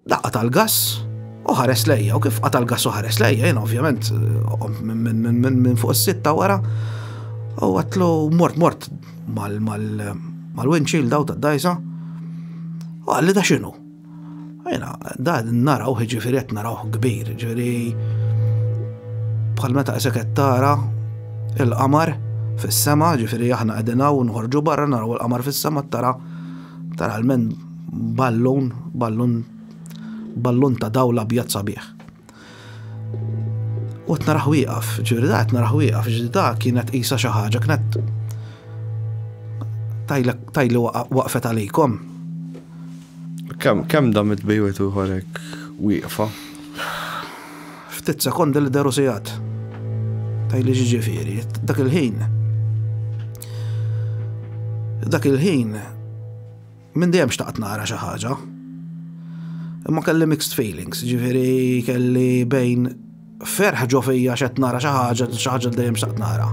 Daqqa tal-gass u ħares lejja, u kif qata l-gass u ħares lejja, jena ovvjament minn fuq is-sitta wara, u għatlu mort mort mal-winċil daw ta' dajza, u għalli da xinu. Jena, da naraw ġifiri għet naraw kbir, ġifiri bħal meta esekettara il-qamar fis-sema, ġifiri aħna għedinaw nħorġu barra naraw il-qamar fis-sema tara tara l-men Ballun, ballun, ballun ta' dawl abjad sabiħ. U qed naraħ wieqaf, ġifieri da qed naraħ wieqaf, ġifieri da kienet qisha xi ħaġa kienet tajli waqfet għalikom. Kemm kemm dam it-tbejwet ieħor hekk wieqfa? Ftit sekondi li deru sigħat. Tajli ġiġifieri, dak il-ħin. Dak il-ħin Minn dejjem xtaqt nara xi ħaġa. Imma kelli mixed feelings, ġifieri kelli bejn ferħ ġo fija xed nara xi ħaġa, xi ħaġa dejjem xtaqt nara.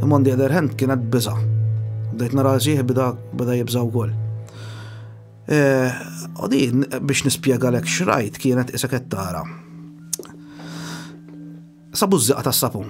Imma on the other hand kienet biża. Bdejt nara sieħ bida bida jibża wkoll. Eh, u din biex nispjega lek xrajt kienet isek qed tara. Sabu żiqa tas-sapun.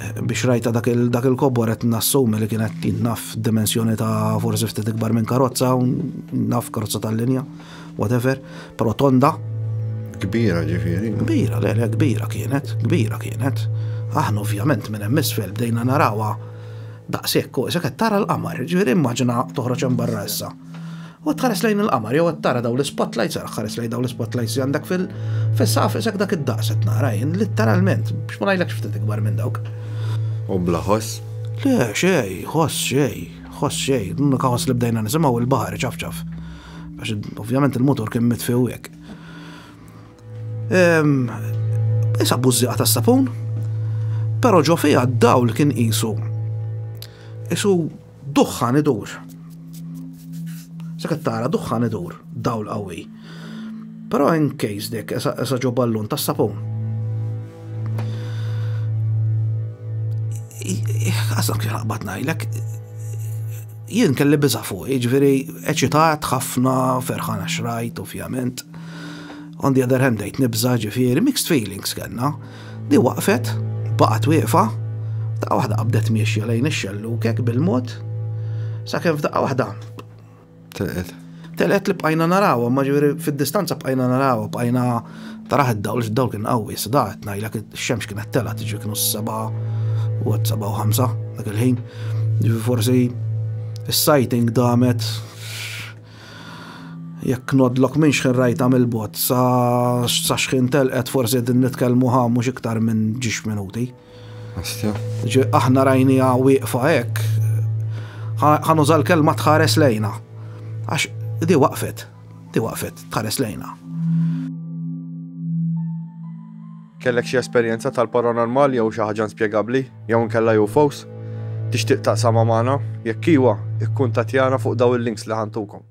Biex rajta dak il-kobor qed nassumi li kien qed naf dimensjoni ta' forsi ftit ikbar minn karozza, naf karozza tal-linja, whatever, però tonda. Kbira ġifieri. Kbira, le, le, kbira kienet, kbira kienet. Aħna ovvjament minn hemm isfel bdejna narawha daqshekk, isek qed tara l-qamar, ġifieri immaġina toħroġ hemm barra issa. U tħares lejn il-qamar, jew qed tara dawn l-ispotlights, ara ħares lejn dawn l-ispotlights li għandek fil fis-saqaf isek dak id-daqs qed nara jien, litteralment, biex ma ngħidlekx ftit ikbar minn dawk. U bla ħoss? Le, xej, ħoss xej, ħoss xej, l-unika ħoss li bdejna nisimgħu il-baħar iċafċaf. Għax ovvjament il-motor kien mitfi u hekk. Issa bużżieqa tas-sapun, però ġo fiha d-dawl kien qisu. Isu Duħħan idur. Sekk tara duħħan idur, dawl qawwi. Però in case dek esa ġo ballun ta' sapun. Għasak xaqbat najlek, jien kelli biza fuq, ġviri eċitat ħafna ferħana xrajt, ovvjament. On the other hand, dejt nibza ġifiri, mixed feelings kellna. Di waqfet, baqgħet wieqfa, f'daqqa waħda qabdet miexja lejn ix-xellukek bil-mod, sakemm f'daqqa waħda. Telqet. Telqet li bqajna narawha, ma ġifieri fid-distanza bqajna narawha, bqajna taraħ id-dawl id-dawl kien qawwi, sdaħet ngħidlek ix-xemx kienet telqa tiġi kienu s-seba' u seba' u ħamsa dak il-ħin. Forsi is-sighting damet Jekk ngħoddlok minn xħin rajtha mill-bogħod sa sa xħin telqet forsi qegħdin nitkellmu ħa mhux iktar minn ġiex minuti. Ġi aħna rajniha wieqfa hekk. Ħanuża l-kelma tħares lejna. Għax di waqfet, di waqfet tħares lejna. Kellek xi esperjenza tal-paranormal jew xi ħaġa inspjegabbli jew inkella UFOs? Tixtieq taqsamha magħna? Jekk iwa, ikkuntattjana fuq dawn il-links li ħa ntukom.